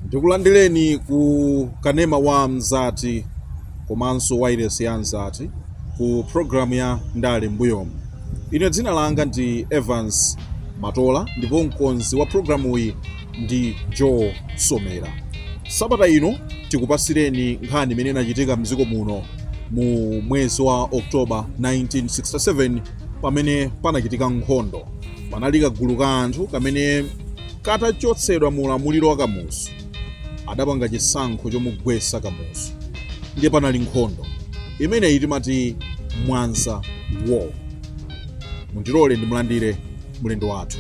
ndikulandireni ku kanema wa mzati komanso wailesi ya mzati ku programu ya ndale mbuyomu ine dzina langa ndi evans matola ndipo mkonzi wa programuyi ndi Joe Somera. Sabata ino tikupatsireni nkhani imene inachitika mdziko muno mu mwezi wa October 1967 pamene panachitika nkhondo. Panali kagulu ka anthu kamene katachotsedwa mu ulamuliro wa Kamuzu adapanga chisankho chomugwetsa Kamuzu ndiye panali nkhondo imeneyi timati Mwanza War. Mundilole ndimulandire mlendo wathu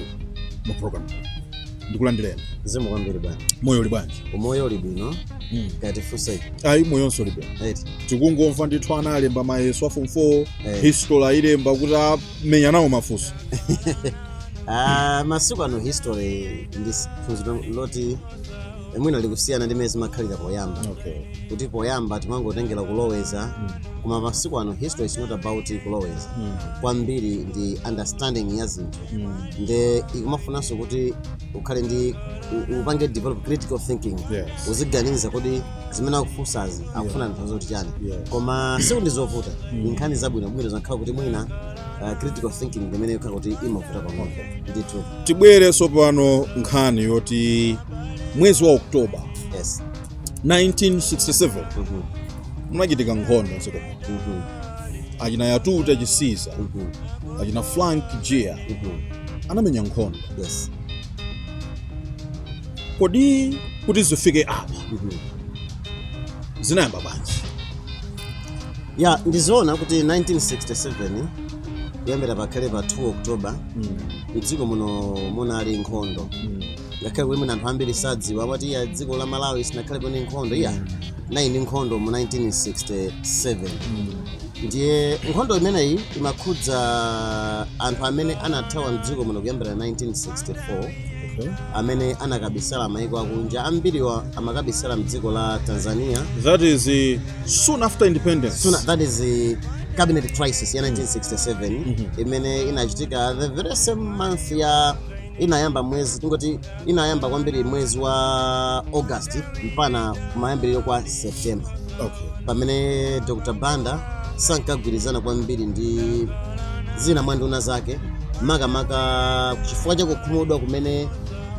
mu program. ndikulandireni zikomo kwambiri bwana moyo uli bwanji umoyo uli bwino mm. kaya tifunse ayi moyonso uli bwino eti tikungomva ndithu ana alemba mayeso a form 4 Eh. history ayilemba kuti amenya nawo mafunso Ah, masiku ano history ndi s- phunziro loti mwina likusiyana ndi mmene zimakhalira poyamba okay. kuti poyamba timangotengela kuloweza mm. koma masiku ano history is not about kuloweza mm. kwambiri ndi understanding ya zinthu Mm. nde ikumafunanso kuti ukhale ndi u- upange develop critical thinking Yes. uziganiza kodi zimene akufunsazi akutanthauza kuti chani Yes. koma sikuti ndi zovuta ndi nkhani zabwino bwino zakhala kuti mwina uh, critical thinking ndi imene ikhala kuti imavuta pang'ono ndithu tibwere tsopano nkhani yoti mwezi wa oktoba yes 1967 Mhm. munachitika nkhondo mdziko muno Mhm. achina yatuta chisiza Mhm. achina frank jiya Mhm. anamenya nkhondo Yes. kodi kuti zifike apa Mhm. zinayamba bwanji ya ndizoona kuti 1967 kuyambira pakhale pa 2 oktoba mdziko muno munali nkhondo ngakhale kuti mwina anthu ambiri sadziwa amati iya dziko la malawi silinakhalepo ndi nkhondo iyayi munali nkhondo mu 1967 ndiye nkhondo imeneyi imakhudza anthu amene anathawa mdziko muno kuyambira 1964 Okay. amene anakabisala maiko akunja ambiriwa amakabisala mdziko la tanzania That is uh, soon after independence. Soon after, that is the cabinet crisis ya 1967 imene inachitika the very same month ya inayamba mwezi tingoti inayamba kwambiri mwezi wa august mpana kumayambiriro kwa september okay. pamene dr banda sankagwirizana kwambiri ndi zina mwa nduna zake makamaka chifukwa cha kukhumudwa kumene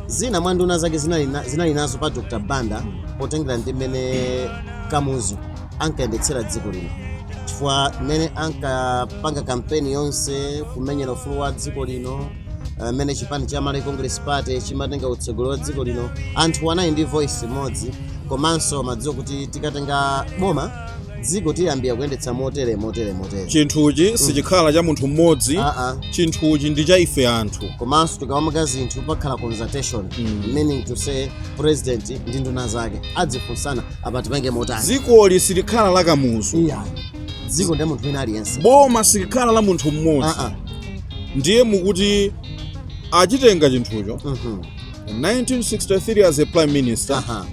zina mwa nduna zake zinali na- zinali nazo pa dr banda potengera ndi mmene kamuzu ankayendetsera dziko lino chifukwa mmene ankapanga kampeni yonse kumenyera ufulu wa dziko lino mmene chipani cha Malawi Congress Party chimatenga utsogoleri wa dziko lino anthu anali ndi voice imodzi komanso amadziwa kuti tikatenga boma dziko tiyambe kuliyendetsa motere motere motere chinthuchi sichikhala cha munthu mmodzi aa chinthuchi ndi cha ife anthu komanso tikamapanga zinthu pakhala consultation Mm. meaning to say president ndi nduna zake azifunsana apa tipange motani dzikoli silikhala la kamuzu ayi dziko ndi la munthu wina aliyense boma silikhala la munthu mmodzi aa ndiye mukuti achitenga chinthucho Mhm. 1963 as a prime minister Aha.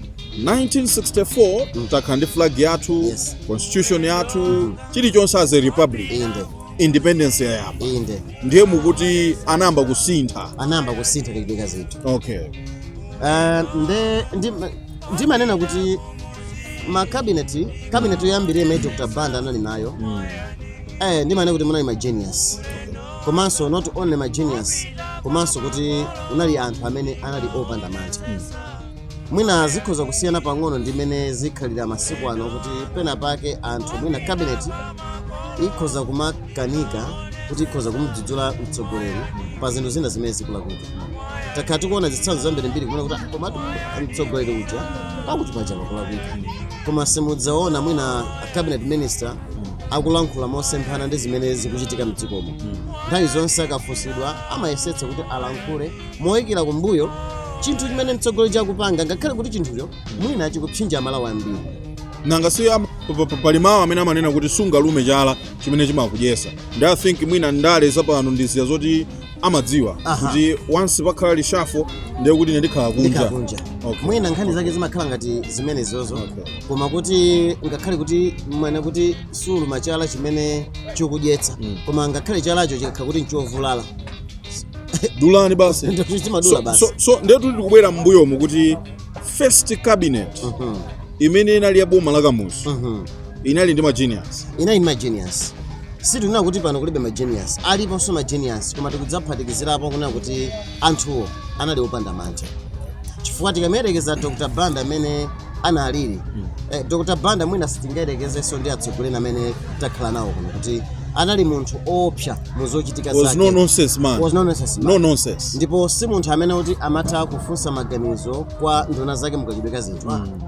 1964 Mm. takhala ndi flag yathu Yes. constitution yathu Mhm. chilichonse as a republic inde independence yayamba inde ndiye mukuti anayamba kusintha anayamba kusintha ndikudicta zinthu okay Ah, nde ndi ndimanena kuti makabineti kabineti yoyambirira imene dr banda anali nayo mm. eh, ndimanena kuti munali magenius komanso not only magenius komanso kuti unali anthu amene anali opanda mantha mm. mwina zikhoza kusiyana pang'ono ndi mmene zikukhalira masiku ano kuti pena pake anthu mwina kabineti ikhoza kuma kanika kuti ikhoza kumdzudzula mtsogoleri pa zinthu zina zimene zikulakwika takhala tikuona zitsanzo zambirimbiri kumene kuti "Ah, komatu mtsogoleri uja pakuti pakuti pakulakwika koma simudzaona mwina a cabinet minister akulankhula mosemphana ndi zimene zikuchitika mdzikomo nthawi zonse akafunsidwa amayesetsa kuti alankhule moikira kumbuyo chinthu chimene mtsogoleri akupanga ngakhale kuti chinthucho mwina chikupsinja amalawi ambiri nanga si am- pa- pa- pa- pali mawu amene amanena kuti sungalume chala chimene chimakudyetsa ndi i think mwina ndale zapano ndi zija zoti amadziwa Aha. kuti once pakhala reshuffle ndiye kuti ine ndikhala kunja ndikhala kunja Okay. mwina nkhani zake zimakhala ngati zimenezozo Okay. koma kuti ngakhale kuti amanena kuti suluma chala chimene chikukudyetsa Mm. koma ngakhale chalacho chikakhala kuti nchovulala dulani basi Ndicho chimadulidwa so, basi so, so ndiye tuli tikubwera m'mbuyomu kuti first cabinet Mhm, imene inali ya boma la kamuzu mhm. inali ndi ma genius sitinena kuti pano kulibe ma genius aliponso ma genius koma tikudzaphatikizirapo kunena kuti anthuwo anali opanda manja chifukwa tikamuyerekeza dr banda amene analiri mm. eh, dr banda mwina sitingayerekezenso ndi atsogoleri amene takhala nawo kuno kuti anali munthu oopsa mu zochitika zake no nonsense man was no nonsense man. no nonsense ndipo si munthu amene kuti amatha kufunsa maganizo kwa nduna zake mukachitidwe ka zinthu mm.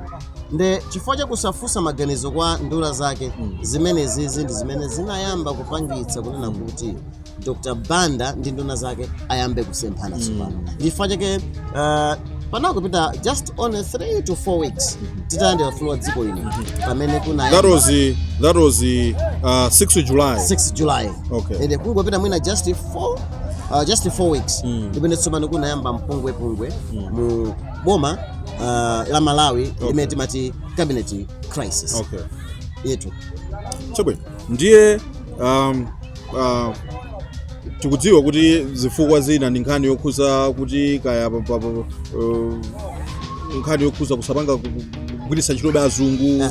nde chifukwa chakusafunsa maganizo kwa nduna zake zimenezizi ndi zimene zinayamba kupangitsa kunena kuti dr banda ndi nduna zake ayambe kusemphana tsopano chifukwa chake uh, panakupita just only 3 to 4 weeks titalandira ufulu wa dziko lino pamene That kunayamba was the, that was the uh, 6th July. 6 july Okay. ende kungopita mwina just 4 uh, just 4 weeks ndi pamene tsopano kunayamba mpungwepungwe mu boma uh, la malawi okay. limene timati cabinet crisis okay. yetu chabwino ndiye um, uh, tikudziwa kuti zifukwa zina ndi nkhani yokhuza kuti kaya uh, nkhani yokhuza kusapanga kugwiritsa ntchitobe azungu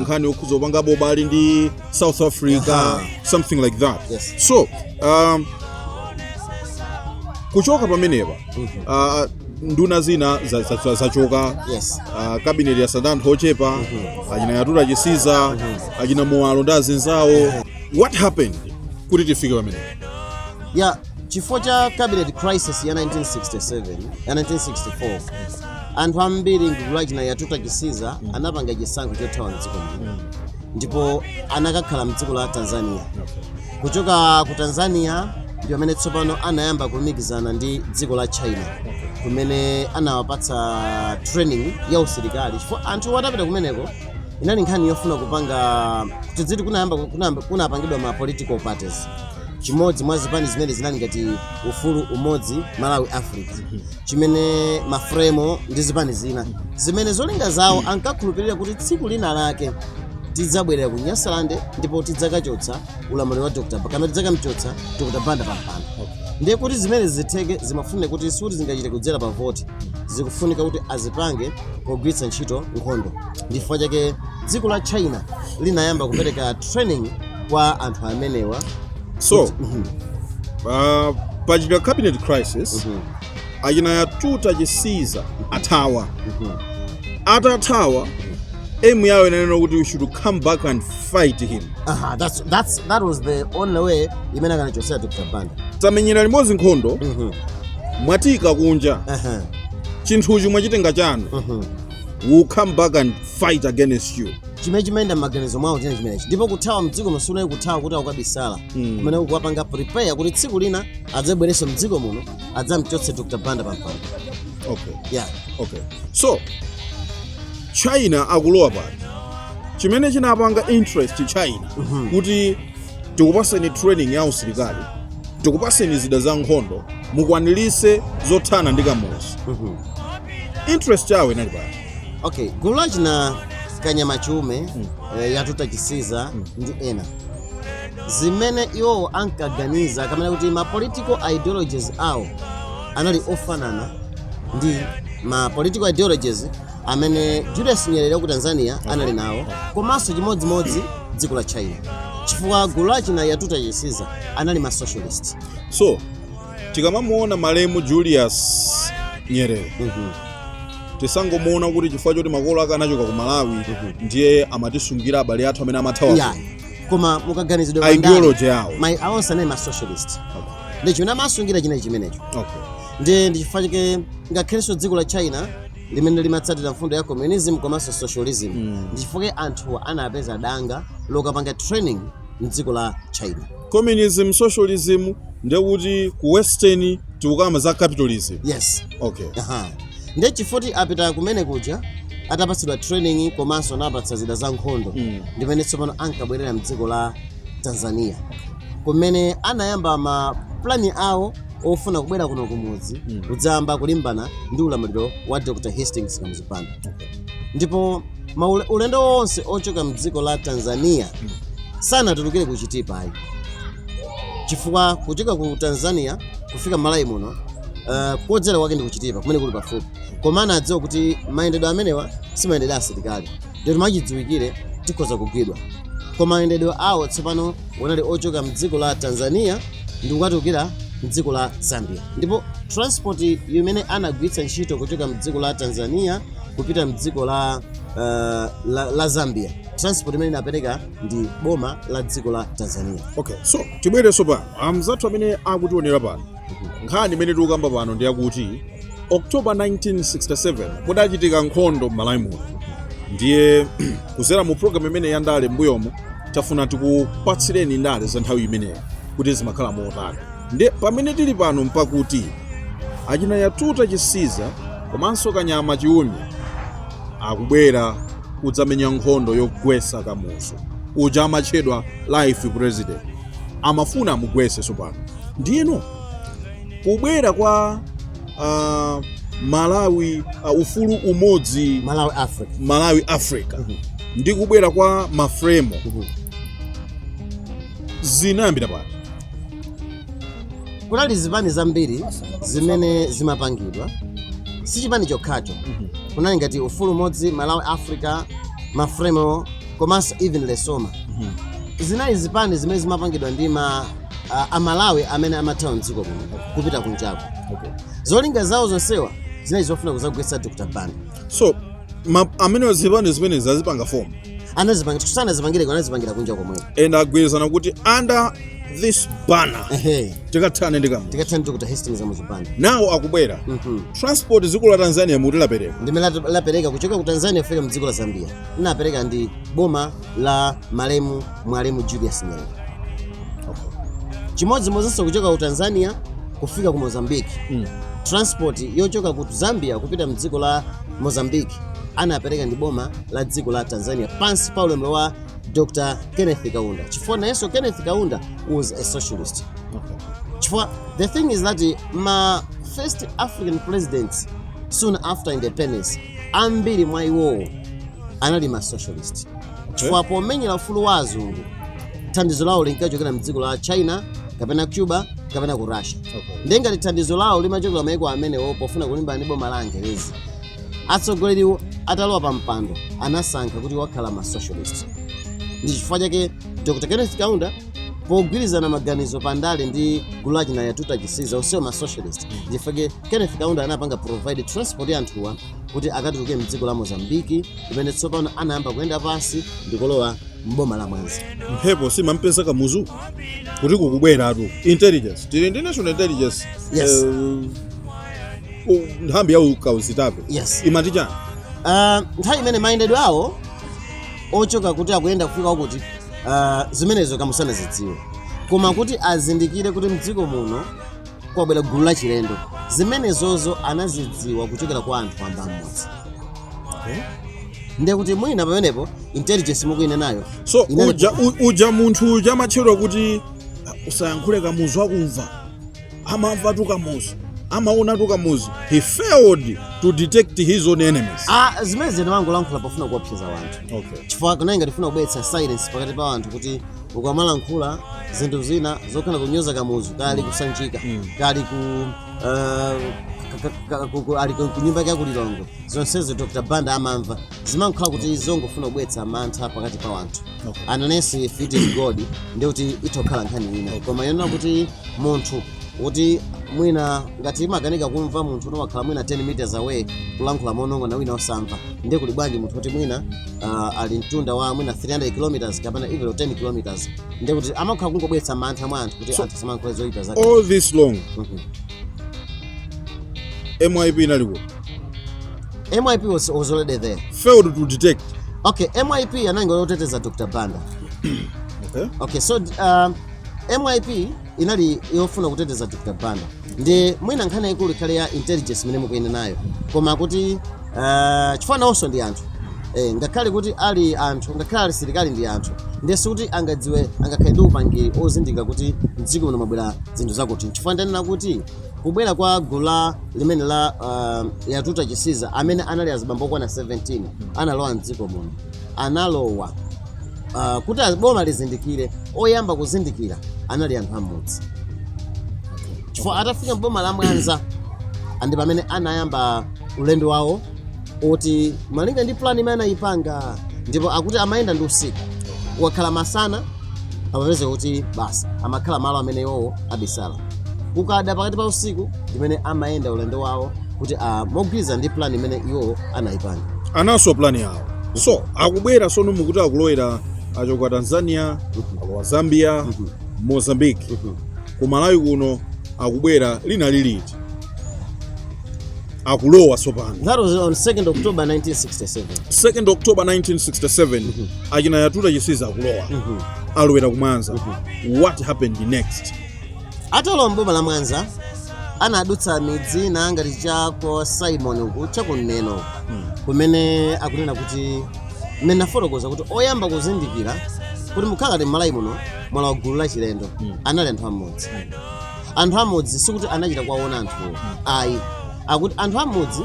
nkhani yokhuza kupangabe ubale ndi south africa Aha. something like that yes. so um, kuchoka pamenepa Ah, nduna zina za- za- za- zachoka Yes. Ah, kabineti yatsala anthu ochepa achina yatuta chisiza achina muwalo ndi azinzawo what happened kuti tifike pamenepa ya chifukwa cha cabinet crisis ya 1967 ya 1964 anthu ambiri m'gulu la achina yatuta chisiza anapanga chisankho chothawa mdziko muno ndipo anakakhala mdziko la tanzania kuchoka ku tanzania ndi pamene tsopano anayamba kulumikizana ndi dziko la china kumene anawapatsa training ya usilikali chifukwa anthu atapita kumeneko inali nkhani yofuna kupanga tiziti kunayamba kunayamba- kunapangidwa ma political parties chimodzi mwa zipani zimene zinali ngati ufulu umodzi malawi africa chimene mafremo ndi zipani zina zimene zolinga zawo ankakhulupirira kuti tsiku lina lake tidzabwerera ku nyasalande ndipo tidzakachotsa ulamuliro wa dr Ba- kapena tidzakamchotsa dr banda pampando ndiye kuti zimenezi zitheke zimafunika kuti sikuti zingachitike kudzera pa voti zikufunika kuti azipange pogwiritsa ntchito nkhondo ndi chifukwa chake dziko la china linayamba kupereka training kwa anthu amenewa so Kuti- Mhm, uh, pachita cabinet crisis mhm, achina yatuta chisiza athawa mhm. atathawa aim yawo inali kuti we should come back and fight him Aha, that's, that's, that was the only way imene akanachosera dr banda tamenyera limodzi nkhondo Mhm, mwatiika kunja aha, chinthuchi mwachitenga chanu mhm. we'll come back and fight against you chimene chimayenda m'maganizo mwawo chinali chimenechi ndipo kuthawa mdzikomo siunali kuthawa kuti akukabisala, Mm. kumene kukuwapanga prepare kuti tsiku lina adzabwerenso mdziko muno adzamchotse dr banda pampando okay yeah. okay so china akulowa pati, chimene chinapanga interest china Mhm. kuti tikupaseni training ya usilikali tikupaseni zida za nkhondo mukwanilise zothana ndi kamuzu Mhm. interest yawo inali pati okay gulu lachina kanyama chume eh, yatuta chisiza ndi ena zimene iwowo ankaganiza kunena kuti ma political ideologies awo anali ofanana ndi ma political ideologies amene julius nyerere wa ku tanzania anali nawo komanso chimodzimodzi dziko la china chifukwa gulu lachina yatuta chisiza anali ma socialist so tikamamuona malemu julius nyerere Mhm. tisangomuona kuti chifukwa choti makolo ake anachoka ku malawi ndiye amatisungira abale athu amene amathawa ya kuno. koma mukaganizidwe kwa ndale, ideology yawo onse anali ma socialist ndi chimene amasungira chinali chimenecho okay. ndi ndi chifukwa chake ngakhalenso dziko la china limene limatsatira mfundo ya communism komanso socialism Mm. ndi chifukwa chake anthuwa anapeza danga lokapanga training mdziko la china Communism, socialism ndiye kuti ku western tikukamba za capitalism. Yes. Okay. Aha. Ndiye chifoti apita kumene kuja atapatsidwa training komanso anapatsa zida za nkhondo mm. ndi mmene tsopano ankabwerera mdziko la Tanzania kumene anayamba ma plani awo ofuna kubwera kuno kumudzi mm. kudzayamba kulimbana ndi ulamuliro wa Dr. Hastings Kamuzu Banda. Okay. ndipo maule- ulendo wonse ochoka mdziko la tanzania sanatulukire ku chitipa ayi chifukwa kuchoka ku tanzania kufika m'malawi muno uh, kodzera kwake ndi kuchitipa kumene kuli pafupi koma anadziwa kuti mayendedwe amenewa si mayendedwe a asilikali ndikuti mwachidziwikire tikhoza kugwidwa koma mayendedwe awo tsopano anali ochoka mdziko la tanzania ndi kukatulukira mdziko la zambia Ndipo transport imene anagwiritsa ntchito kuchoka mdziko la Tanzania kupita mdziko la, uh, la, la Zambia transport imene inapereka ndi boma la dziko la Tanzania. Okay, so tibwerenso pano amzathu amene akutionera pano nkhani imene tikukamba pano ndi yakuti October 1967 mudachitika nkhondo m'Malawi muno ndiye kuzera mu program imene ya ndale m'mbuyomo tafuna tikupatsireni ndale za nthawi imeneyo kuti zimakhala motani Nde pamene tili pano mpakuti achina Yatuta Chisiza komanso Kanyama Chiume akubwera kudzamenya nkhondo yogwesa Kamuzu uja amatchedwa life president. Amafuna amugwese sopano. Ndiyeno kubwera kwa a Malawi a ufulu umodzi, Malawi Africa. Malawi Africa ndi kubwera kwa Mafremo zinayambira pati? kunali zipani zambiri zimene zimapangidwa si chipani chokhacho kunali ngati ufulu umodzi malawi africa mafremo komanso even lesoma zinali zipani zimene zimapangidwa ndi ma a- amalawi amene amathawa mdziko muno kupita kunja zolinga zawo zonsewa zinali zofuna kuzagwetsa dr banda so ma, amene zipani zimenezi anazipanga form anazipanga chifukwa sanazipangire kuno anazipangira kunja komwe and agwirizana kuti under this banner ehe tikathane ndi kamuzu tikathane ndi dr hastings kamuzu banda nawo akubwera Mhm. transport dziko la tanzania muti lapereka ndi ndani lat- lapereka kuchoka ku tanzania kufika mu dziko la zambia inaperekedwa ndi boma la malemu mwalimu julius nyerere chimodzimodzinso kuchoka ku tanzania kufika ku mozambique Mm. transport yochoka ku zambia kupita mdziko la mozambique anapereka ndi boma la dziko la Tanzania pansi pa ulamuliro wa Dr. Kenneth Kaunda chifukwa nayenso Kenneth Kaunda was a socialist chifukwa the thing is that eh, ma first African presidents soon after independence ambiri mwa iwowo anali ma socialist chifukwa pomenyera ufulu wa azungu thandizo lawo linkachokera mdziko la china kapena cuba kapena ku russia Okay. ndiye ngati thandizo lawo limachokera maiko amenewo pofuna kulimbana ndi boma la angelezi atsogoleriwo atalowa pa mpando anasankha kuti akhala ma socialist ndi chifukwa chake dr kenneth kaunda pogwirizana maganizo pa ndale ndi gulu la achina yatuta chisiza onsewo ma socialist nchifake kenneth kaunda anapanga provide transport ya anthuwa kuti akatuluke mdziko la mozambiki kumene tsopano anayamba kuyenda pansi ndikulowa mboma la mwanza mphepo simampeza kamuzu kuti kukubweratu intelligence tili ndi national intelligence Yes. Eh, u- nthambi ya ukazitape Yes. imati chani Ah, nthawi imene mayendedwe awo ochoka kuti akuyenda kufika uku ah, zimenezo kamuzu sanazidziwe koma kuti azindikire kuti mdziko muno kwabwera gulu la chilendo zimenezozo anazidziwa kuchokera kwa anthu wamba mmudzi ndiye kuti mwina pamenepo intelligence mukuinenayo so inali- uja, u- uja munthu uja amatchedwa kuti usayankhule kamuzu akumva amamvatu kamuzu amaonatu kamuzu he failed to detect his own enemies Ah, zimene zija ankangolankhula pofuna kuwopseza wanthu okay. chifukwa kunali ngati kufuna kubweretsa silence pakati pa wanthu kuti ukamalankhula zinthu zina zokhala kunyoza kamuzu ali ku sanjika ali ku ah, ka- ka- ka- ku- ku- ali ku ku nyumba yake yaku lilongwe zonsezo dr banda amamva zimangokhala kuti zongofuna kubweretsa mantha pakati pa wanthu unless if it is god ndiye kuti itha kukhala nkhani ina koma yonena kuti munthu kuti mwina ngati imakanika kumva munthu woti wakhala mwina 10 meters away kulankhula monong'ona wina osamva ndiye kuli bwanji munthu oti mwina uh, ali mtunda wa mwina 300 kilometers kapena even 10 kilometers ndiye kuti amakhala kungobweretsa mantha mwa anthu kuti So- anthu asamalankhule zoyipa zake all this long Mhm. myp inali kuti myp was, was already there failed to detect okay myp inali yoteteza dr banda okay. okay so um, myp inali yofuna kuteteza dr banda ndiye mwina nkhani yayikulu ikhale ya intelligence imene mukuyinenayo koma kuti uh, chifukwa nawonso ndi anthu eh, ngakhale kuti ali anthu ngakhale ali asilikali ndi anthu nde sikuti angadziwe angakhale ndi upangiri ozindikira kuti mdziko muno mwabwera zinthu zakuti chifukwa ndanena kuti Kubwera kwa gulu limene la uh, Yatuta Chisiza amene anali azibambo okwana 17 analowa mdziko muno analowa uh, kuti a boma lizindikire oyamba kuzindikira anali anthu amudzi chifukwa atafika mboma la mwanza ndi pamene anayamba ulendo wawo oti malinga ndi plan imene anayipanga ndipo akuti amayenda ndi usiku kukakhala masana amapeza kuti basi amakhala malo amene iwowo abisala kukada pakati pa usiku ndi mmene amayenda ulendo wawo kuti ah, mogwirizana ndi plan imene iwowo anayipanga analinso ndi plan yawo so akubwera sono mukuti akulowera achoka tanzania alowa zambia mozambique ku malawi kuno akubwera linali liti akulowa tsopano That was on 2nd October 1967. 2nd october 1967 achina yatuta chisiza akulowa alowera kumwanza what happened next atalowa mboma la mwanza anadutsa midzi ina ngati cha kwa simon uku cha ku neno kumene akunena kuti mmene nafotokoza kuti oyamba kuzindikira kuti mukhala ngati mmalawi muno mwalowa gulu la chilendo anali anthu amudzi anthu amudzi sikuti anachita kuwaona anthuwo ayi akuti anthu amudzi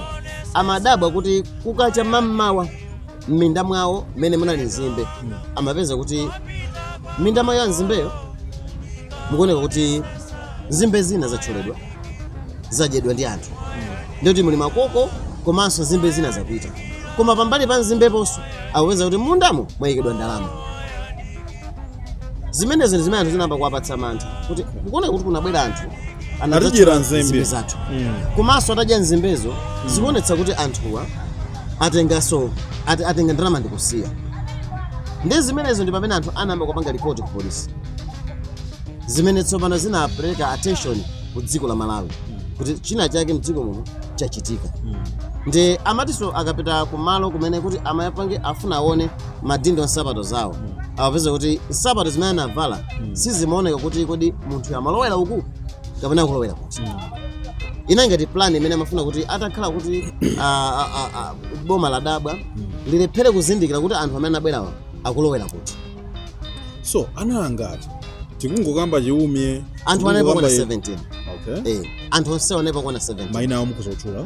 amadabwa kuti kukacha mammawa m'minda mwawo mmene munali nzimbe amapeza kuti mminda mwawo mwa nzimbemo mukuoneka kuti nzimbe zina zatcholedwa zadyedwa ndi anthu ndiye kuti muli makoko komanso nzimbe zina zapita koma pambali pa nzimbeponso akupeza kuti mundamo mwayikidwa ndalama zimenezi ndi zimene anthu zinayamba kuwapatsa mantha kuti kukuoneka kuti kunabwera anthu anadzachola Atijira nzimbe. nzimbe zathu Mm. komanso atadya nzimbezo zikuonetsa kuti anthuwa atenganso ate- atenga ndalama ndikusiya ndi zimenezo ndi pamene anthu anayamba kupanga ripoti ku polisi zimene tsopano zinapereka attention ku dziko la malawi kuti china chake mdziko muno chachitika ndi amatiso akapita kumalo kumene kuti amayapange afuna aone madindo a nsapato zawo amapeza kuti nsapato zimene anavala sizimaoneka kuti kodi munthuyo amalowera uku kapena akulowera kuti inali ngati plan imene amafuna kuti atakhala kuti ah, ah, ah, ah, boma ladabwa lilephere kuzindikira kuti anthu amene anabwerawa akulowera kuti so anali angati tikungokamba Chiume anthu analipo okwana tikungokamba- 17 okay. eh, anthu onse analipo okwana 17 maina awo mukuzotchula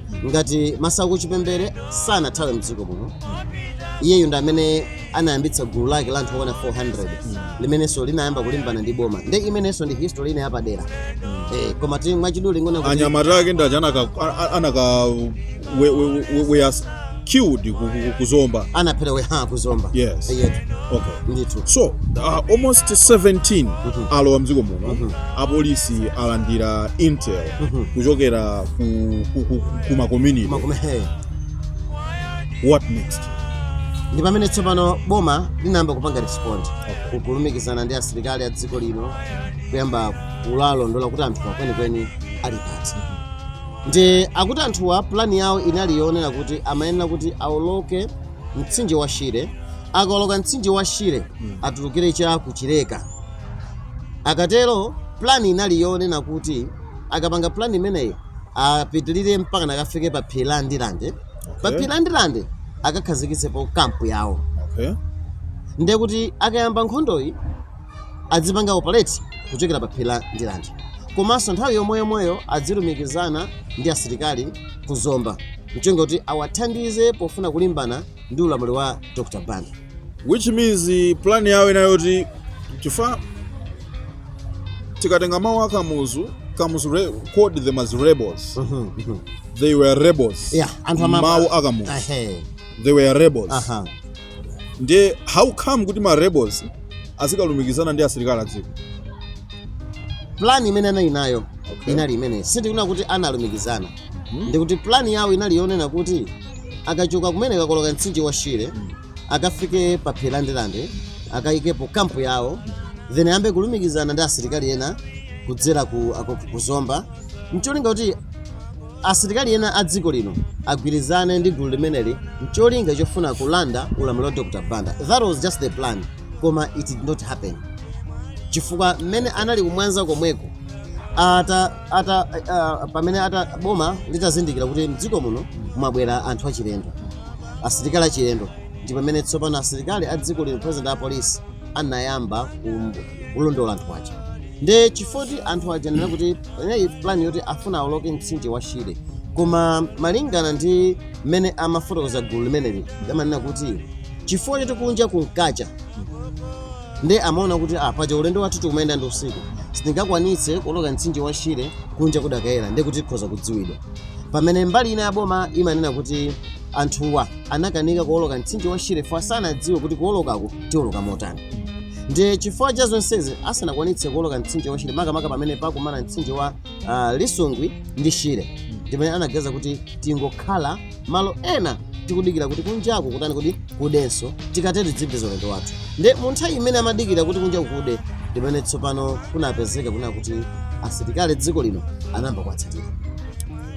ngati masauko chipembere sanathawe mdziko muno iyeyu ndi amene anayambitsa gulu lake la anthu okwana 400 limenenso linayamba kulimbana ndi boma nde imenenso ndi history ina yapadera eh, komatu mwachidule ndi zoona kuti anyamata ake ndi aja anaka- a- a- anakaweyasa killed ku, ku, ku zomba anaphera we ha kuzomba Yes. yetu okay ndithu so uh, almost 17 Mhm. alowa mdziko muno Mhm. apolisi alandira intel Mhm. kuchokera ku, ku, ku, ku ma community makome he what next ndi pamene tsopano boma linayamba kupanga respond polumikizana ndi asilikali a dziko lino kuyamba kuwalondola kuti anthuwa kwenikweni ali pati Nde akuti anthuwa plan yawo inali yonena kuti amayenera kuti aoloke mtsinje wa Shire, akaoloka mtsinje wa Shire atulukire cha ku Chileka. Akatero plan inali yonena kuti akapanga plan imeneyi apitirire mpaka nakafike pa phiri la Ndirande. Pa Okay. phiri la Ndirande akakhazikitsepo kampu yawo. Okay. Nde kuti akayamba nkhondoyi adzipanga operate kuchokera pa phiri la Ndirande komanso nthawi yomweyomweyo adzilumikizana ndi asilikali ku Zomba mcholinga kuti awathandize pofuna kulimbana ndi ulamuliro wa Dr. Banda which means plan yawo inali yoti chifukwa tikatenga mawu a Kamuzu Kamuzu re- called them as rebels Mhm, mhm. they were rebels yeah anthu amaba- mawu a Kamuzu Ahe, they were rebels aha nde how come kuti ma rebels azikalumikizana ndi asilikali adziko plan imene anali nayo Okay. inali imeneyi sindikunena kuti analumikizana ndikuti plan yawo inali yonena kuti akachoka kumene akakoloka mtsinje wa shire akafike pa phiri la ndirande akayikepo kampu yawo then ayambe kulumikizana ndi asilikali ena kudzera ku, ako- ku zomba mcholinga kuti Asilikali ena a dziko lino agwirizane ndi gulu limeneli ncholinga chofuna kulanda ulamuliro wa Dr Banda. That was just the plan koma it did not happen chifukwa mmene anali kumwanza komweko ata, ata, uh, pamene ata boma litazindikira kuti mdziko muno mwabwera anthu achilendo asilikali achilendo ndi pamene tsopano asilikali a dziko lino president a polisi anayamba kum- kulondola anthu aja nde chifoti anthu aja nena kuti panali plan yoti afuna awoloke mtsinje wa shire koma malingana ndi mmene amafotokoza gulu limeneli amanena kuti chifukwa choti kunja kunkacha nde amaona kuti ah, paja ulendo wathu tikumayenda ndi usiku sitingakwanitse kuoloka mtsinje wa shire kunja kudakayera nde kuti tikhoza kudziwidwa pamene mbali ina ya boma imanena kuti anthuwa anakanika kuoloka mtsinje wa shire fwa sanadziwe kuti kuolokako tioloka motani ndi chifukwa cha zonsezi asanakwanitse kuoloka mtsinje wa shire makamaka pamene pakumana mtsinje wa ah, lisungwi ndi shire ndimene anaganiza kuti tingokhala malo ena tikudikira kuti kunjaku kutani kuti kudenso tikatero tidzipitiriza ulendo wathu ndi mu nthawi imene amadikira kuti kunjaku kude ndimene tsopano kunapezeka kunena kuti asilikali a dziko lino anayamba kuwatsatira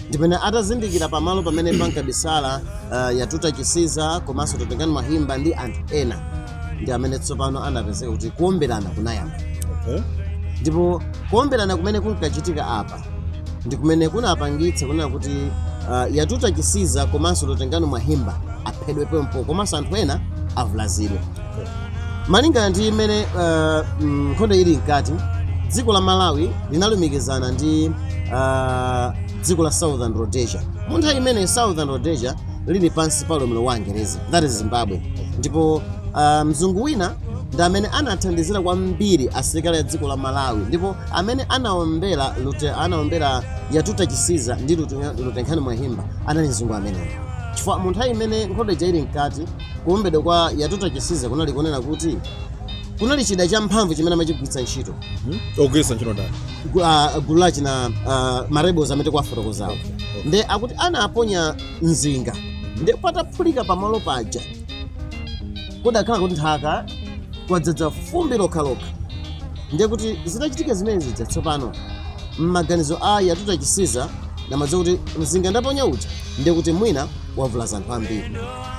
ndi pamene atazindikira pamalo pamene pankabisala uh, yatuta chisiza komanso lutengano mwahimba ndi anthu ena ndi amene tsopano anapezeka kuti kuomberana kunayamba okay. ndipo kuomberana kumene kunkachitika apa ndi kumene kunapangitsa kunena kuti uh, yatuta chisiza komanso lutengano mwahimba aphedwe pompo komanso anthu ena avulazidwe malingana ndi mmene uh, mm, nkhondo ili mkati dziko la malawi linalumikizana ndi uh, dziko la southern rhodesia mu nthawi imene southern rhodesia lili pansi pa ulamuliro wa angerezi that is zimbabwe ndipo uh, mzungu wina ndi amene anathandizira kwambiri asilikali a dziko la malawi ndipo amene anaombera lute anaombera yatuta chisiza ndi Lute- lutengano mwahimba anali mzungu ameneyo chifukwa mu nthawi imene nkhondo ija ili mkati kuombedwa kwa yatuta chisiza kunali kunena kuti kunali chida champhamvu chimene amachigwiritsa ntchito ogwiritsa ntchito ndani gu- ah, gulu la achina ah, marebels amene ndikuwafotokozawo nde akuti anaponya mzinga nde pataphulika pamalo paja kudakhala kuti nthaka kwadzadza fumbi lokhalokha ndiye kuti zitachitika zimene zija tsopano m'maganizo a yatuta chisiza amadziwa kuti mzinga ndaponya uja ndiye kuti mwina wavulaza anthu ambiri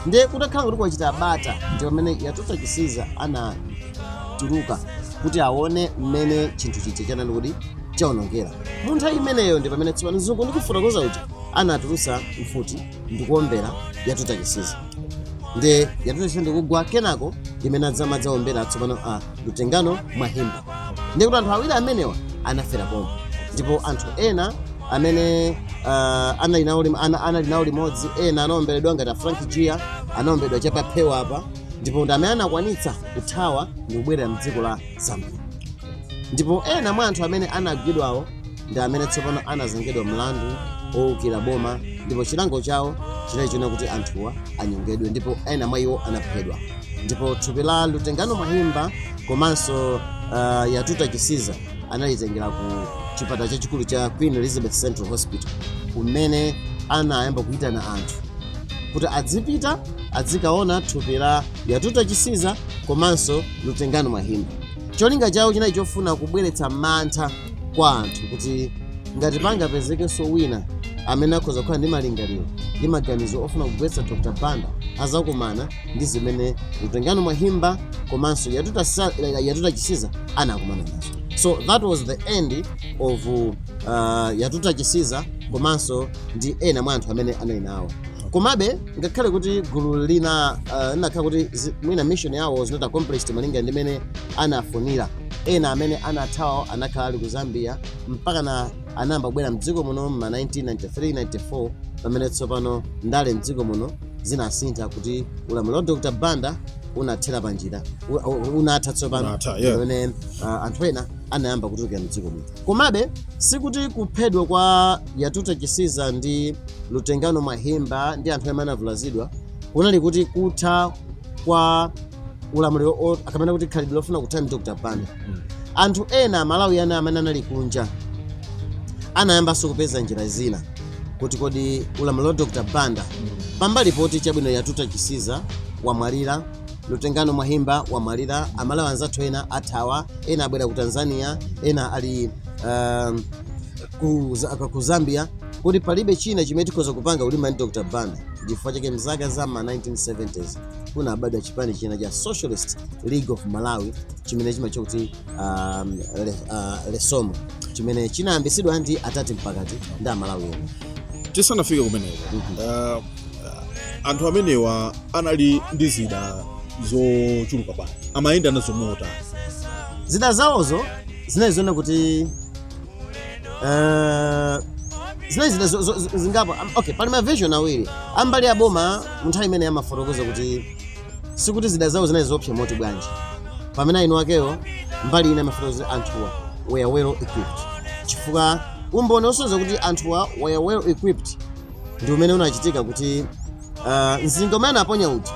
ndiye kutakhala kuti kwachita bata ndi pamene yatuta chisiza anatuluka kuti aone mmene chinthu chija chinali kuti chaonongera mu nthawi imeneyo ndi pamene tsopano mzungu ndikufotokoza uja anatulutsa mfuti ndikuombera yatuta chisiza nde yatuta chisiza ndikugwa kenako imene adzamadzaombera tsopano a lutengano mwahimba ndiye kuti anthu awiri amenewa anafera pomwe ndipo anthu ena amene uh, anali nawo lim- ana- anali nawo limodzi ena anaomberedwa ngati a frank gia anaomberedwa chapaphewa apa ndipo ndi amene anakwanitsa kuthawa ndikubwerera mdziko la zambia ndipo ena mwa anthu amene anagwidwawo ndi amene tsopano anazengedwa mlandu owukira boma ndipo chilango chawo chinali choona kuti anthuwa anyongedwe ndipo ena mwa iwo anaphedwa ndipo thupi la lutengano mahimba komanso uh, yatuta chisiza analitengera ku chipatala chachikulu cha queen elizabeth central hospital kumene anayamba kuyitana anthu kuti adzipita adzikaona thupi la yatuta chisiza komanso lutengano mahimba Cholinga chawo chinali chofuna kubweretsa mantha kwa anthu kuti ngati pangapezekenso wina amene akhoza kukhala ndi malingaliro ndi maganizo ofuna kugwetsa Dr Banda azakumana ndi zimene Lutengano Mwahimba komanso Yatuta, Sa- eh, Yatuta Chisiza anakumana nazo. So that was the end of uh, Yatuta Chisiza komanso ndi ena mwa anthu amene anali nawo. Komabe ngakhale kuti gulu lina uh, linakhala kuti zi- mwina mission yawo was not accomplished malinga ndi mene anafunira ena amene anathawa anakhala ali ku zambia mpakana anayamba kubwera mdziko muno ma 1993-94 pamene tsopano ndale mdziko muno zinasintha kuti ulamuliro wa dr banda unathera panjira u- u- unatha tsopano Unatha, yeah. pamene uh, anthu ena anayamba kutulukira mdziko muno komabe sikuti kuphedwa kwa yatuta chisiza ndi lutengano mwahimba ndi anthu amene anavulazidwa kunali kuti kutha kwa ulamuliro o- kapena kuti khalidwe lofuna kuthana ndi dr banda anthu ena amalawi ena amene anali kunja anayambanso kupeza njira zina kuti kodi ulamuliro wa dr banda pambali poti chabwino yatuta chisiza wamwalira lutengano mwahimba wamwalira amalawi anzathu ena athawa ena abwera ku tanzania ena ali um, ku za- aka- ku zambia kuti palibe china chimene tikhoza kupanga kulimbana ndi dr banda chifukwa chake mzaka za ma 1970s kunabadwa chipani china cha socialist league of malawi chimene chimatchedwa kuti um, le, uh, lesomo chimene chinayambitsidwa ndi atati mpakati ndi amalawi ena tisanafike kumeneko uh, anthu amenewa anali ndi zida zochuluka bwanji amayenda nazo motani zida zawozo zinali choona kuti Eh, zimene zina zo- zo- zo- zingapo Am- okay pali mavision awiri a mbali ya boma munthawi imene amafotokoza kuti sikuti zida zawo zinali zoopsa moti bwanji pamene eni akewo mbali ina amafotokoza kuti anthuwa were well equipped chifukwa umboni osonyeza kuti anthuwa were well equipped ndi umene unachitika kuti ah, mzinga umene anaponya uja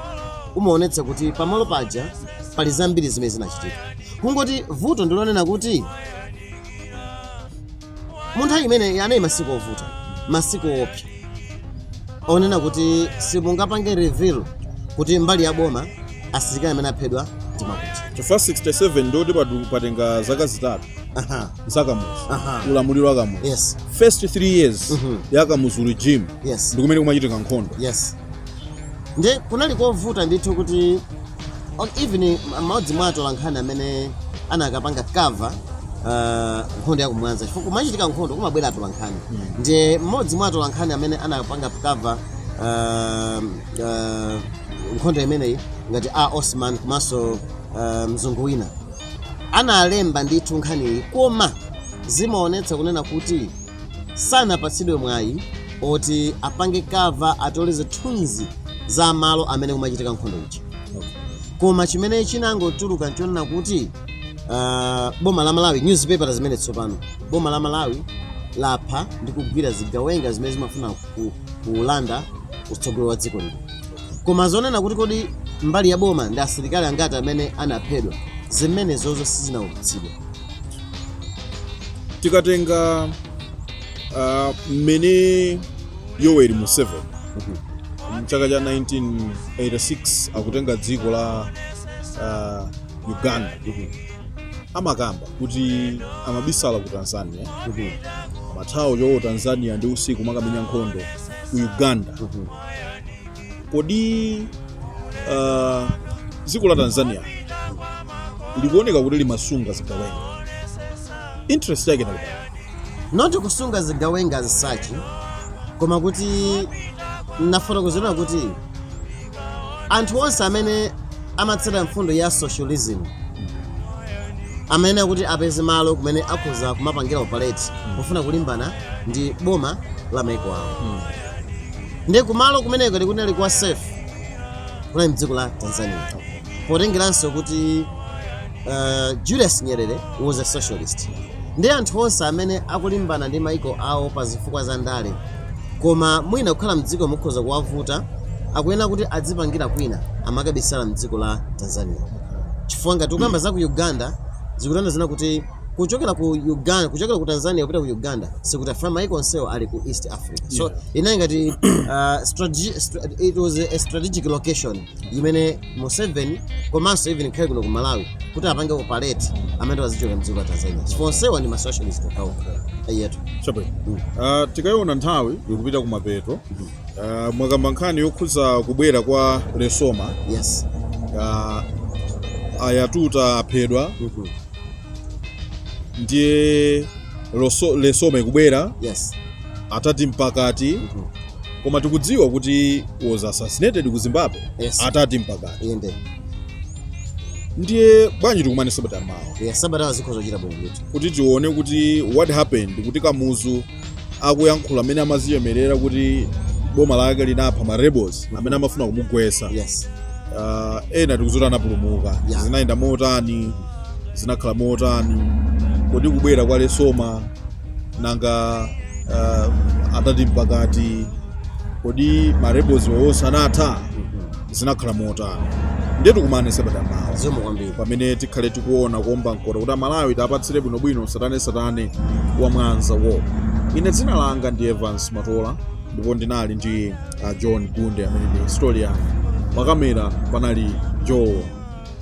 umaonetsa kuti pamalo paja pali zambiri zimene zinachitika kungoti vuto ndilonena kuti mu nthawi imeneyi anali masiku ovuta masiku oopsa onena kuti simungapange reveal kuti mbali ya boma asilikali amene aphedwa ndi akuti chifukwa 67 ndi poti padu- patenga zaka zitatu Aha, za kamuzu Aha. ulamuliro wa kamuzu yes first 3 years Mhm. ya kamuzu regime yes ndi kumene kumachitika nkhondo yes nde kunali kovuta ndithu kuti even mmodzi mwa atolankhani amene anakapanga cover uh, nkhondo ya ku mwanza chifukwa kumachitika nkhondo kumabwera atolankhani ndiye mmodzi mwa atolankhani amene anakapanga cover uh, uh, nkhondo imeneyi ngati a osman komanso uh, mzungu wina analemba ndithu nkhaniyi koma zimaonetsa kunena kuti sanapatsidwe mwayi oti apange cover atole zithunzi za malo amene kumachitika nkhondo ija koma chimene chinangotuluka nchonena kuti ah, boma la malawi newspaper zimene tsopano boma la malawi lapha ndi kugwira zigawenga zimene zimafuna ku- kulanda utsogoleri wa dziko lino koma zonena kuti kodi mbali ya boma ndi asilikali angati amene anaphedwa zimenezozo sizinaulutsidwe tikatenga ah, mmene yoweri museveni mchaka cha 1986 akutenga dziko la ah, uganda amakamba kuti amabisala ku tanzania amathawa choncho tanzania ndi usiku makamenya nkhondo ku uganda kodi uh, dziko la tanzania likuoneka kuti limasunga zigawenga interest yake inali yoti kusunga zigawenga as such koma kuti nafotokozera kuti anthu onse amene amatsata mfundo ya socialism amayenera kuti apeze malo kumene akhoza kumapangira operate pofuna kulimbana ndi boma la maiko awo ndiye kumalo kumeneko ndi kunali kwa safe kunali mdziko la tanzania potengeranso kuti uh, julius nyerere was a socialist ndi anthu onse amene akulimbana ndi maiko awo pa zifukwa za ndale koma mwina kukhala mdziko mo kukhoza kuwavuta akuyenera kuti adzipangira kwina amakabisala mdziko la tanzania chifukwa ngati ukamba za ku uganda zikutanthauza kuti kuchokera ku Uganda kuchokera ku Tanzania kupita ku Uganda si kuti afika maiko onsewo ali ku East Africa so yeah. inali ngati uh, strategy, it was a strategic location imene Museveni komanso even dikhale kuno ku Malawi kuti apange operate amene tawazichoka mdziko la Tanzania chifukwa so, onsewa ndi ma socialist okhawo eyetu chabwino mm. uh, tikaiona nthawi ikupita ku mapeto mm. uh, mwakamba nkhani yokhuza kubwera kwa Lesoma yes uh, ayatuta aphedwa mm -hmm. ndiye loso- lesoma ikubwera yes atati mpakati Mhm. koma tikudziwa kuti was assassinated ku zimbabwe Yes. atati mpakati inde ndiye bwanji tikumane sabata yamawa yes sabata zikhoza kuchita bwino ndithu kuti tione kuti what happened kuti kamuzu akuyankhula amene amazichemerera kuti boma lake linapha ma rebels amene amafuna kumugwesa yes uh, ena tikudziwa kuti anapulumuka Yeah. zinayenda motani zinakhala motani kodi kubwera kwa lesoma nanga uh, atati mpakati kodi ma rebels wa onse anatha zinakhala motani ndiye tikumane sabata yamawa zikomo kwambiri pamene tikhale tikuona kuomba mkota kuti amalawi tiapatsire bwinobwino tsatanetsatane wa Mwanza War ine dzina langa ndi evans matola ndipo ndinali ndi a john gunde amene ndi historian pakamera panali joe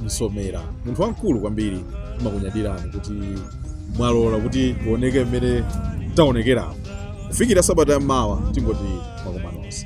msomera munthu wamkulu kwambiri timakunyadirani kuti mwalola kuti tioneke mmene taonekeramo kufikira sabata yammawa tingoti tikomanenso